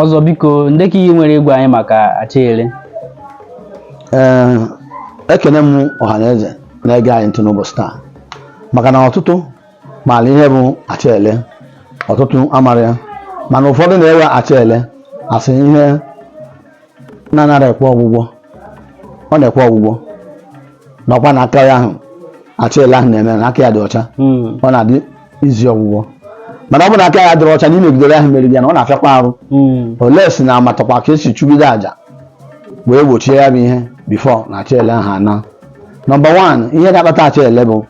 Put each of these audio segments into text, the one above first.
ọzọ biko ndị ka ihe i nwere ịgwa anyị maka achịele ee ekene m ọha na eze na-ege anyị ntị n'ụbọchị taa maka na ọtụtụ maara ihe bụ achịele ọtụtụ amarọ ya mana ụfọdụ na-ewe achịele as ihe na-anarọ ekwe ọgwụgwọ ọ na-ekwe ọgwụgwọ nakwa na aka onye ahụ achịele ahụ na-eme na aka ya dị ọcha Mm. ọ na-adị easy ọgwụgwọ mana ọ bụ na aka ya adịrọ ọcha na imegidere ahụ meriri ya na ọ na-afịakwa arụ Mm. unless na amatakwa ka e si chụgide aja wee gbochie ya bụ ihe before na achịele ahụ ana number one ihe ga-akpata achịele bụ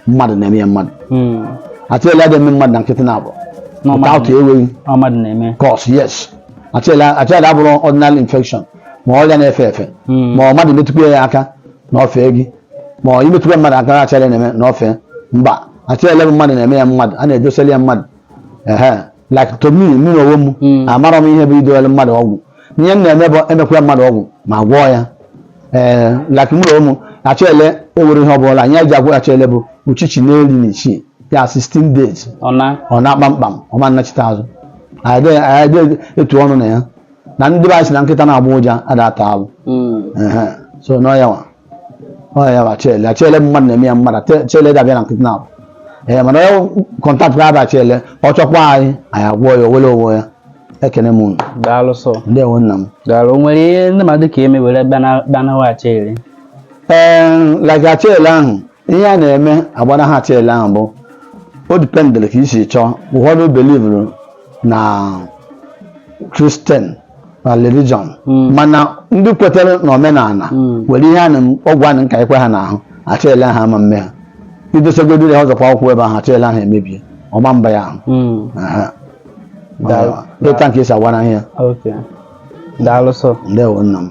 mmadụ na-eme ya mmadụ hmm. achịele adịghị eme mmadụ na nkịtị na abụọ without enweghị cause yes achịele abụrọ ordinary infection ma ọrịa na-efe efe hmm. ma ọ mmadụ metụkwa ya aka na o fee gị ma ọ i metụkwa mmadụ aka achịele na-eme na o fee mba achịele bụ mmadụ na-eme ya mmadụ a na-edoseli ya mmadụ ehe like to me mụ na onwe m Mm. amarọ m ihe bụ idoghara mmadụ ọgwụ ihe m na-eme bụ e mekwaa mmadụ ọgwụ m agwọọ ya ee like mụ na onwe m achịele ewere ihe ọbụla anyị ji agwọ achịele bụ uchichi iri na isii ya 16 days ọ naa kpamkpam ọ ma nachite azụ anyị dị- anyị adị etu ọnụ na ya na ndị be anyị sị na nkịta na-agbọ ụja ada ata alụ Mm. Ehe. so n'ọ ya nwa ọ ya bụ achịele achịele mmadụ na-eme ya mmadụ achịele ada abịa na nkịtị na abụ ee mana onye contact kwa achịele ọ chọkwa anyị anyị agwọ ya o wele onwe ya ekene m unu daalụ sọ ndewo nna m daalụ o nwere ihe ndị mmadụ ga-eme were gbanaha achịele ee like achịele ahụ ihe a na-eme agbanaha achịele ahụ bụ o dependiri ka i si chọọ ụfọdụ believuru na Christian na religion Mm. mana ndị kwetere na omenala Mm. nwere ihe a na ọgwụ a na-akakwa ha n'ahụ achịele ahụ ama mme ha i dosagodiri ha ọ zọkwa ya ụkwụ ebe ahụ achịele ahụ emebie ọ ma mba ya ahụ Mm. Aha. Daalụ. Dịta nke e si agwara ihe Okay. Daalụ sọ. ndewo nna m